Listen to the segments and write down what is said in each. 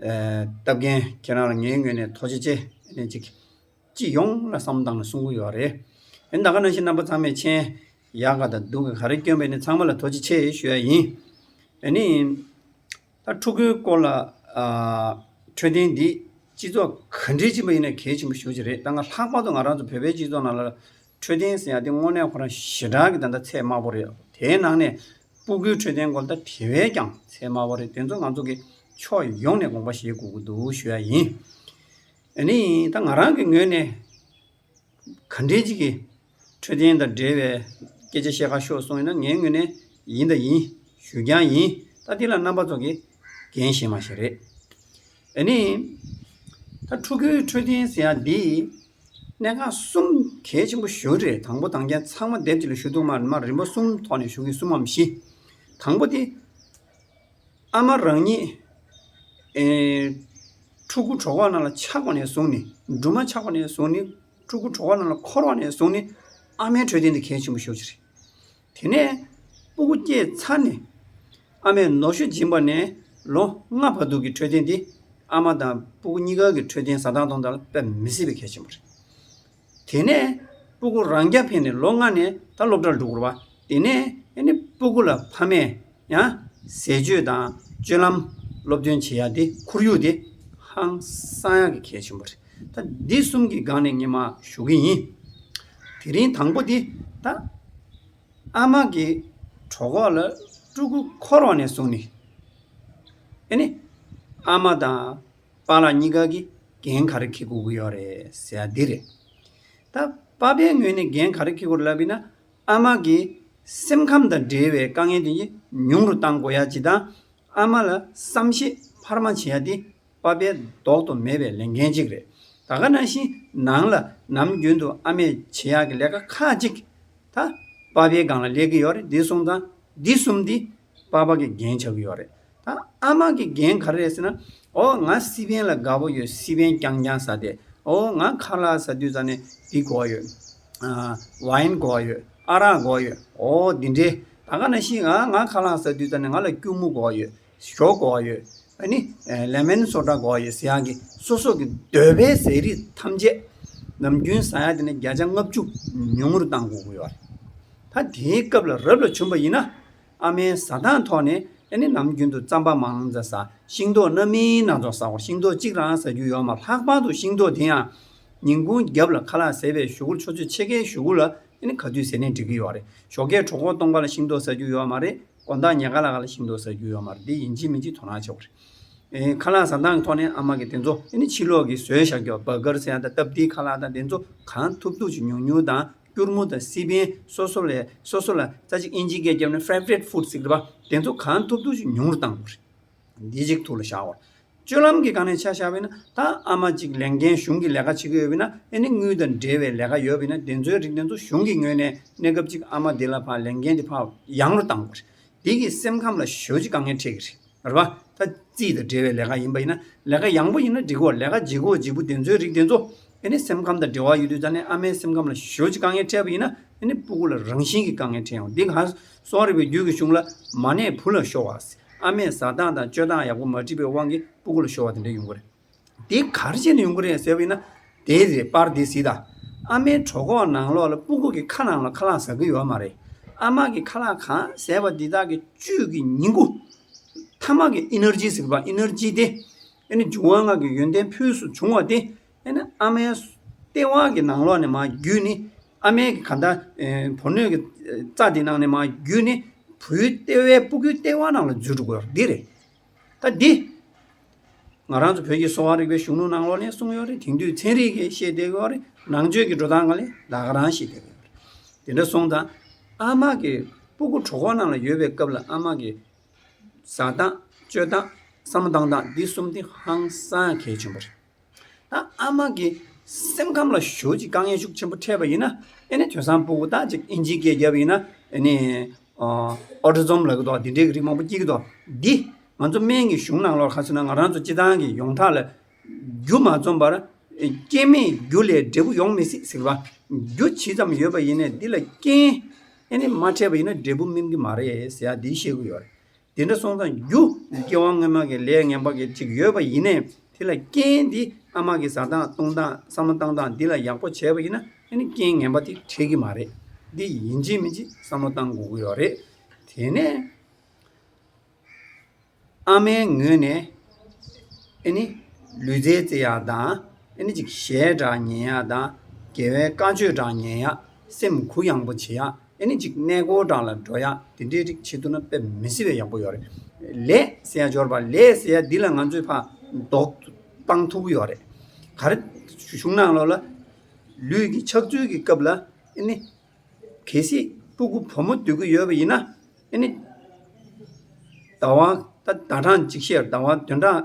སྟབས་རྒན་ཁྱེད་རང་ལ་ངའི་ངོས་ནས་ཐོག་ཆེ་ཆེ་ནས་ཅིག། སྤྱི་ཡོངས་ལ་བསམ་དང་གསུང་གི་ཡོད་རེད། ཡིན་ད་ག་ནང་བཞིན་རྣམ་པ་ཚང་མས་མཆན། ཡག་ག་དང་སྡུག་ག་ག་རེ་བསྐྱོན་པས་ནི་ཚང་མ་ལ་ཐོག་ཆེ་ཆེ་ཞུ་ཡ་ཡིན། ཨ་ནི། ད་ཕྲུ་གུའི་སྐོར་ལ། འཕྲོད་བསྟེན་འདི་སྤྱི་ཚོགས་ག་འདྲའི་སྤྱི་པ་ཡིན་ན་གལ་ཆེན་པོ་ཞུ་ཅི་རེད་ད་སྔ་ལྷག་པར་དུ་ང་རང་ཚོ་བོད་པའི་སྤྱི་ཚོགས་ནང་ལ། འཕྲོད་བསྟེན་ཟེར་ཡ་དེ་དངོས་གནས་ཁོ་རང་ཞེ་དྲག་གི་ད་ལྟ་ཚད་དམའ་པོ་རེད། དེའི་ནང་ནས་སྤུ་གུའི་འཕྲོད་བསྟེན་སྐོར་ད་དེ་བས་ཀྱང་ཚད་དམའ་བ་རེད་དེ་ཚོ་ང་ཚོ་གི་ཕྱོགས་ཡོངས་ནས་དགོངས་པ་བཞེས་དགོས་ཀྱི་འདུག་ཞུ་ཡ་ཡིན། ནི་ད་ང་རང་གི་ངོས་ནས་ག་འདྲའི་ཅིག་གི་འཕྲོད་བསྟེན་དང་འབྲེལ་བའི་སྐད་ཆ་བཤད་ཁ་ཤོག་གསུངས་ཡོད་ན་ངའི་ངོས་ནས་ཡིན་ད་ཡིན་ཞུ་རྐྱང་ཡིན་ད་དེ་ལ་རྣམ་པ་ཚོ་གི་འགན་བཞེས་མ་བཞེས་རེད། འདི་ནི་ད་ཕྲུ་གུའི་འཕྲོད་བསྟེན་ཟེར་ཡག་འདི། གནད་འགག་གསུམ་གལ་ཆེན་པོ་བཞི་རེད་དང་པོ་དང་རྐྱེན་ཚང་མ་སྡེབ་གཅིག་ལ་ཞུ་གཏུག་མར་མར་རིམ་པ་གསུམ་ཐོག་ནས་ཞུ་གི་གསུམ་མམ་བཞི། དང་པོ་དེ། ཨ་མ་རང་ཉིད། ཕྲུ་གུ་གྲོགས་པོ་རྣམས་ལ་ཆགས་པ་ནས་བཟུང་ནི་སྦྲུམ་མ་ཆགས་པ་ནས་བཟུང་ནི་ཕྲུ་གུ་གྲོགས་པོ་རྣམས་ལ་འཁོར་བ་ནས་བཟུང་ནི་ཨ་མའི་འཕྲོད་བསྟེན་དེ་གལ་ཆེན་པོ་ཤོས་ཆེ་རེད། དེ་ནས་སྤུ་གུ་སྐྱེས་ཚར་ནས། ཨ་མས་ནོར་ཤུ་སྦྱིན་པ་ནས་ལོ་ལྔ་བར་དུ་གི་འཕྲོད་བསྟེན་འདི་ཨ་མ་དང་སྤུ་གུ་གཉིས་ཀ་གི་འཕྲོད་བསྟེན་ཟ་འཐག་གཏོང་ཐང་ལ་དཔེ་མི་སྲིད་པའི་གལ་ཆེན་པོ་རེད། དེ་ནས་སྤུ་གུ་རང་རྐྱ་འཕེན་ནས་ལོ་ལྔ་ནས་ད་སློབ་གྲྭར་འགྲོ་དགོས་པ་དེ་ནས་ནི་སྤུ་གུ་ལ་ཕ་མས་ཡང་ཟས་སྤྱོད་དང་སྤྱོད་ལམ་སློབ་སྟོན་བྱེད་ཡ་དེ་ཁོར་ཡུག་དེ་ཧང་སང་ཡ་གི་གལ་ཆེན་པོ་རེད། ད་འདི་གསུམ་གི་སྒང་ནས་ངས་མ་ཞུ་གི་ཡིན། དེ་རིང་དང་པོ་འདི་ད་ཨ་མ་གི་གྲོགས་ཁོག་ལ་སྤྲུ་གུ་འཁོར་བ་ནས་བཟུང་ནས་ཨེ་ནི་ཨ་མ་དང་པཱ་ལགས་གཉིས་ཀ་གིས་རྒན་ག་རེ་ཁེ་དགོས་ཀྱི་ཡོད་རེད་ཟེར་ཡ་འདི་རེད། ད་པཱ་པའི་ངོས་ནས་རྒན་ག་རེ་ཁེ་དགོས་ལབ་ཡིན་ན་ཨ་མ་གི་སེམས་ཁམས་དང་འབྲེལ་བའི་དཀའ་ངལ་དེ་ཉུང་རུ་གཏང་དགོས་ཡ་བྱེད་དང་ཨ་མ་ལ་བསམ་ཤེས་འཕར་མ་བྱེད་ཡ་དེ་པ་པའི་ལྡོག་ཏུ་མེད་པའི་ལས་འགན་ཅིག་རེད། ད་ག་ན་བཞིན་ནང་ལ་ནམ་རྒྱུན་དུ་ཨ་མས་བྱེད་ཡག་གི་ལས་ཀ་ཁག་ཅིག་ད་པ་པའི་སྒང་ལ་སླེབས་ཀྱི་ཡོད་རེད་འདི་གསུམ་དང་འདི་གསུམ་འདི་པ་པ་གི་འགན་བྱ་གི་ཡོད་རེད། ད་ཨ་མ་གི་འགན་ག་རེ་རེད་ཟེར་ན། ཨོ་ང་སི་པན་ལ་དགའ་བོ་ཡོད་སི་པན་རྐྱང་རྐྱང་ཟ་དེ། ཨོ་ང་ཁ་ལག་ཟ་དུས་ཙང་ནས་འདི་གོ་ཡོད། Wine གོ་ཡོད་ཨ་རག་གོ་ཡོད་ཨོ་འདི་འདྲའི། ད་ག་ན་བཞིན་ང་ཁ་ལག་ཟ་དུས་ཙང་ནས་ང་ལ་སྐྱུར་མོ་གོ་ཡོད། ཞོ་འགོ་བ་ཡོད་ཨ་ནི། ལེ་མན་སོགས་འདྲ་འགོ་བ་ཡོད་ཟེར་ཡག་གི་སོ་སོ་གི་འདོད་པའི་ཟས་རིགས་ཐམས་ཅད་ནམ་རྒྱུན་ཟ་ཡག་དེ་ནས་བརྒྱ་ཆ་ལྔ་བཅུ་ཉུང་ངུར་བཏང་དགོས་ཡོད་རེད་ད་དེའི་སྐབས་ལ་རབ་ལ་བྱུང་པ་ཡིན་ན་ཨ་མའི་ཟ་སྟངས་ཐོག་ནས་ཨ་ནི་ནམ་རྒྱུན་དུ་རྩམ་པ་མང་ཙ་ཟ་ཤིང་ཏོག་སྣ་མིན་སྣ་ཚོགས་ཟ་བར་ཤིང་ཏོག་གཅིག་རང་ཟ་རྒྱུ་ཡོད་མ་ལྷག་པར་དུ་ཤིང་ཏོག་དེ་ཡང་ཉིན་གུང་རྒྱབ་ལ་ཁ་ལག་ཟས་པའི་ཞོ་གུར་ཆོ་ཚོད་ཕྱེད་ཀའི་ཞོ་གུར་ལ་ཨ་ནི་ག་དུས་ཟས་ནས་འགྲིག་གི་ཡོད་རེད་ཞོ་ཁའི་གྲོག་མགོ་སྟོང་པ་ལ་ཤིང་ཏོག་ཟ་རྒྱུ་ཡོད་མ་རེད། དགོན་བདག་ཉེ་དགའ་ལགས་ལ་ཤིང་ཏོག་ཟ་རྒྱུ་ཡོད་མ་རེད་དེ་ཡིན་གཅིག་མིན་གཅིག་དོ་སྣང་བྱེད་དགོས་རེད། ཁ་ལག་ཟ་འདང་གི་ཐོག་ནས་ཨ་མ་གི་དེ་ཚོ་ཨེ་ནི་ཕྱི་ལོག་གི་ཟོལ་བཞག་རྒྱོ་བ་གར་སེ་ཡང་དང་སྟབས་བདེའི་ཁ་ལག་དང་དེ་ཚོ་གང་ཐུབ་ཐུབ་ཀྱི་ཉུང་ཉུང་དང་སྐྱུར་མོ་དང་སི་པན་སོ་སོ་ལས་སོ་སོ་ལ་རྩ་གཅིག་ཨིན་ཇིའི་སྐད་བརྒྱབ་ནས Favorite Food Secret པ་དེ་ཚོ་གང་ཐུབ་ཐུབ་ཀྱི་ཉུང་རུ་གཏང་དགོས་རེད། འདི་གཅིག་ཐུགས་ལ་བཞག། སྤྱོད་ལམ་གྱི་གང་ནས་ཆ་བཞག་པས་ན་ད་ཨ་མ་གཅིག་ལས་འགན་གཞུང་གི་ལས་ཀ་བྱེད་ཀྱི་ཡོད་པས་ན་ཨེ་ནི་དངུལ་དང་འབྲེལ་བའི་ལས་ཀ་ཡོད་པས་ན་དེ་ཚོའི་རིགས་དེ་ཚོ་གཞུང་གི་ངོས་ནས་གནས་སྐབས་གཅིག་ཨ་མ་འདི་ལ་ཕར་ལས་འགན་འདི་ཕར་ཡང་རུ་བཏང་དགོས། འདི་གིས་སེམས་ཁམས་ལ་ཞོད་ཅིག་དཀའ་ངལ་འཕྲད་ཀྱི་རེད། རེད་པ། ད་རྩིས་དང་འབྲེལ་བའི་ལས་ཀ་ཡིན་པ་ཡིན་ན་ལས་ཀ་ཡང་པོ་ཡིན་ན་འགྲིག་གོ་ལས་ཀ་ལྗིད་གོ་ལྗིད་པོ་དེ་ཚོའི་རིགས་དེ་ཚོ་ཨེ་ནི་སེམས་ཁམས་དང་འབྲེལ་བ་ཡོད་དུས་ད་ནི་ཨ་མའི་སེམས་ཁམས་ལ་ཞོད་ཅིག་དཀའ་ངལ་འཕྲད་པ་ཡིན་ན་ཨེ་ནི་སྤུ་གུ་ལ་རང་བཞིན་གྱི་དཀའ་ངལ་འཕྲད་ཡོང་འདི་ག་སོག་རིགས་པའི་རྒྱུད་ཀྱི་གཞུང་ལ་མ་གནས་བུ་ལ་ཤོར་བ། ཨ་མས་བཟའ་སྟངས་དང་སྤྱོད་སྟངས་ཡག་པོ་མ་བྲིས་པའི་དབང་གིས་སྤུ་གུ་ལ་ཤོར་བ་དེ་འདྲ་ཡོང་གི་རེད། དེ་གར་བྱས་ནས་ཡོང་གི་རེད་ཟེར་བ་ཡིན་ན། དེ་རེད་པར་དེ་སྲིད་ད། ཨ་མའི་གྲོགས་ཁོག་ནང་ལོགས་ལ་སྤུ་གུ་གི་ཁ་ནང་ལ་ཁ་ལག་ཟ་གི་ཡོད་མ་རེད། ཨ་མ་གི་ཁ་ལག་གང་ཟེར་བ་འདི་དག་གི་བཅུད་ཀྱི་ཉིང་ཁུ། ཐ་མག་གི་ཨི་ནེར་ཇི་ཟེར་བ་ཨི་ནེར་ཇི་དེ། ཨེ་ནི་འབྱུང་བ་སྔགས་ཀྱི་ཡོན་ཏན་ཕུལ་སུ་འབྱུང་བ་དེ་ཨེ་ན་ཨ་མའི། སྟེས་དབང་གི་ནང་ལོགས་ནས་མ་རྒྱུད་ནི། ཨ་མའི་གི་ག་ད། བུ་སྣོད་ཀྱི། རྩ་དེ་ནང་ནས་མ་རྒྱུད་ནི། བུའི་ལྟེ་བའི་སྤུ་གུའི་སྟེས་དབང་ནང་ལ་འཛུལ་འགྲོ་དགོས་འདི་རེད། ད་འདི། ང་རང་ཚོ་བོད་ཀྱི་གསོ་བ་རིག་པའི་གཞུང་ལུགས་ནང་ལོགས་ནས་གསུངས་ཡོད་རེད་དེང་དུས་ཚན་རིག་གིས་ཤེས་བསྡད་ཡོད་རེད་ནང་ཆོས་ཀྱི་འགྲོ་སྟངས་ག་ལེ་ལ་ག་རང་ཤེས་བསྡད་ཡོད་རེད། དེ་འདྲ་སོང་ཙང། ཨ་མ་གི། སྤུ་གུ་གྲོག་ཁོག་ནང་ལ་ཡོད་པའི་སྐབས་ལ་ཨ་མ་གི། བཟའ་སྟངས། སྤྱོད་སྟངས། བསམ་སྟངས་སྟངས་འདི་གསུམ་དེ་ཧང་སང་གལ་ཆེན་པོ་རེད། ད་ཨ་མ་གི་སེམས་ཁམས་ལ་ཞོལ་གྱི་དཀའ་ངལ་ཤུགས་ཆེན་པོ་འཕྲད་པ་ཡིན་ན་ཨེ་ནི་དོན་བཟང་པོ་དག་ཅིག་ཨིན་ཇིའི་སྐད་རྒྱབ་ཡིན་ན་ཨེ་ནི། Autism། ལབ་གི་འདུག་འདི་འདྲའི་རིགས་མང་པོ་སྐྱེས་ཀྱི་འདུག་འདི་ང་ཚོ་སྨན་གྱི་གཞུང་ནང་ལོགས་ཁ་ཟིན་ན་ང་རང་ཚོ་སྤྱི་བཏང་གི་ཡོངས་གྲགས་ལ་རྒྱུ་མ་རྩོམ་པར། སྐྱེ་མེད་རྒྱུ་ལས་འབྲས་བུ་ཡོང་མི་སྲིད་ཟེར་བ། རྒྱུ་ཇི་ཙམ་ཡོད་པ་ཡིན་ནས་འདི་ལ་རྐྱེན་ཨེ་ནི་མ་འཕྲད་པ་ཡིན་ན་འབྲས་བུ་སྨིན་གྱི་མ་རེད་ཟེར་ཡག་འདི་ཤེས་དགོས་ཡོད་རེད། དེ་འདྲ་སོང་ཙང་རྒྱུ་སྐྱེ་བ་སྔོན་མ་གི་ལས་ངན་པ་གི་ཅིག་ཡོད་པ་ཡིན་ནས་དེ་ལ་རྐྱེན་དེ་ཨ་མ་གི་ཟ་སྟངས་བཏུང་སྟངས་བསམ་བློ་བཏང་སྟངས་འདི་ལ་ཡག་པོ་བྱས་པ་ཡིན་ན་རྐྱེན་ངན་པ་དེ་འཕྲད་གི་མ་རེད་འདི་ཡིན་གཅིག་མིན་གཅིག་བསམ་བློ་བཏང་དགོས་ཀྱི་ཡོད་རེད་དེ་ནས་ཨ་མའི་ངོས་ནས་ལུས་རྩལ་རྩེ་ཡག་དང་ཅིག་ཞལ་གྲགས་ཉན་ཡག་དང་དགེ་བའི་བཀའ་ཆོས་གྲགས་ཉན་ཡག་སེམས་གུ་ཡངས་པོ་བྱེད་ཡག་ཨེ་ནི་ཅིག་གནས་སྒོ་བགྲང་ལ་འགྲོ་ཡག་དེ་འདྲའི་རིགས་བྱེད་ཐུབ་ན་དཔེ་མི་སྲིད་པའི་ཡག་པོ་ཡོད་རེད། ལས་ཟེར་ཡ་འབྱོར་པ་ལས་ཟེར་ཡ་འདི་ལ་ང་ཚོས་ཕ་མདོག་སྤང་ཐུབ་ཀྱི་ཡོད་རེད། ག་རེ་བྱུང་ནང་ལོགས་ལ་ལུས་ཀྱི་ཆགས་ཚུལ་གྱི་སྐབས་ལ་ཨེ་ནི། གལ་སྲིད་སྤུ་གུ་བུ་མོ་སྡོད་ཀྱི་ཡོད་པ་ཡིན་ན་ཨེ་ནི། ཟླ་བ་ད་ཟླ་གྲངས་གཅིག་བཤད་ཟླ་བ་དོན་གྲངས་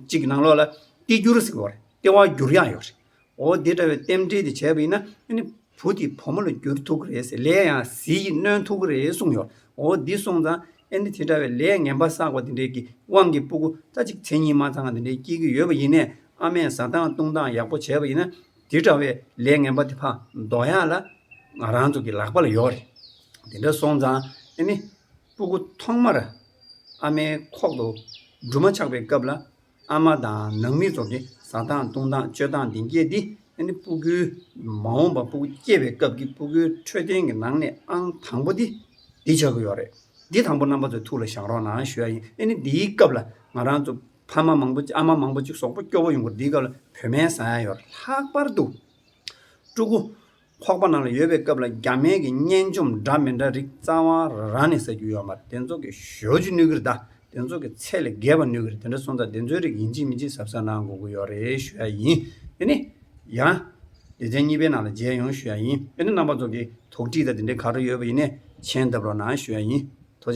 གཅིག་གི་ནང་ལོགས་ལ་ལྟེ་བསྒྱུར་ཟེར་གི་ཡོད་རེད་ལྟེ་བ་བསྒྱུར་ཡག་ཡོད་རེད། འོ་དེ་འདྲ་བའི་རྟེན་འབྲེལ་དེ་བྱས་པ་ཡིན་ན། བུ་དེ་བུ་མོ་ལ་འགྱུར་ཐུག་གི་རེད་ཟེར་ལས་ཡང་ཟིལ་གྱིས་གནོན་ཐུག་གི་རེད་གསུངས་ཡོད། འོ་འདི་སོང་ཙང། ཨེ་འདི་དེ་འདྲ་བའི་ལས་ངན་པ་བསགས་པ་དེ་འདྲས་ཀྱི་དབང་གིས་སྤུ་གུ་རྩ་གཅིག་མཚན་གཉིས་མ་ཚང་དེ་འདྲས་སྐྱེས་ཀྱི་ཡོད་པ་ཡིན་ནས་ཨ་མས་བཟའ་སྟངས་བཏུང་སྟངས་ཡག་པོ་བྱས་པ་ཡིན་ན། འདི་འདྲ་བའི་ལས་ངན་པ་དེ་ཕ་མདོག་ཡག་ལ། ང་རང་ཚོ་གི་ལག་པ་ལ་ཡོད་རེད། དེ་འདྲ་སོང་ཙང། ཨེ་ནི། སྤུ་གུ་ཐོག་མར་ཨ་མའི་ཁོག་ཏུ་འབྲུ་མ་ཆགས་པའི་སྐབས་ལ། ཨ་མ་དང་ནང་མི་ཚོ་གི་ཟ་སྟངས་བཏུང་སྟངས་སྤྱོད་སྟངས་འདི་འགྱེད་འདི་འདི་སྤུ་གུའི། མ་འོངས་པ་སྤུ་གུ་སྐྱེས་པའི་སྐབས་ཀྱི་སྤུ་གུའི་འཕྲོད་བསྟེན་གྱི་ནང་ནས་ཨང་དང་པོ་འདི་འདི་ཆགས་ཀྱི་ཡོད་རེད། འདི་དང་པོ་རྣམ་པ་ཚོས་ཐུགས་ལ་བཞག་རོགས་གནང་ཞུ་ཡ་ཡིན་ཨ་ནི་འདིའི་སྐབས་ལ་ང་རང་ཚོ་ཕ་མ་མང་པོ་ཨ་མ་མང་པོ་ཅིག་ཟོག་པོ་སྐྱོ་བོ་ཡོང་གི་འདིའི་སྐབས་ལ་བུད་སྨན་ཟ་ཡ་ཡོད་རེད་ལྷག་པར་དུ། ཀྲུ་གུ། ཁོག་པ་ནང་ལ་ཡོད་པའི་སྐབས་ལ་རྒྱ་སྨན་གྱི་སྙན་འཇོམས་འདྲ་མི་འདྲ་རིགས་རྩ་བ་རང་ནས་ཟ་རྒྱུ་ཡོད་མ་རེད་དེ་ཚོ་གི་ཞོ་ཅི་ནུས་ཀི་རེད་ད་དེ་ཚོ་གི་ཚད་ལས་བརྒལ་བ་ནུས་ཀི་རེད་དེ་འདྲ་སོང་ཙང་དེ་ཚོའི་རིགས་ཡིན་གཅིག་མིན་གཅིག་ཟབ་ཟབ་གནང་དགོས་ཀི་ཡོད་རེད་ཞུ་ཡ་ཡིན་དེ་ནི་ཡང། ལེ་ཚན་གཉིས་པའི་ནང་ལ་མཇལ་ཡོང་ཞུ་ཡ་ཡིན་དེ་ནི་རྣམ་པ་ཚོ་གི་དོགས་དྲིས་དང་དེ་འདྲའི་ག་རེ་ཡོད་པ་ཡིན་ནས་མཆན་བཏབ་རོགས་གནང་ཞུ་ཡ་ཡིན།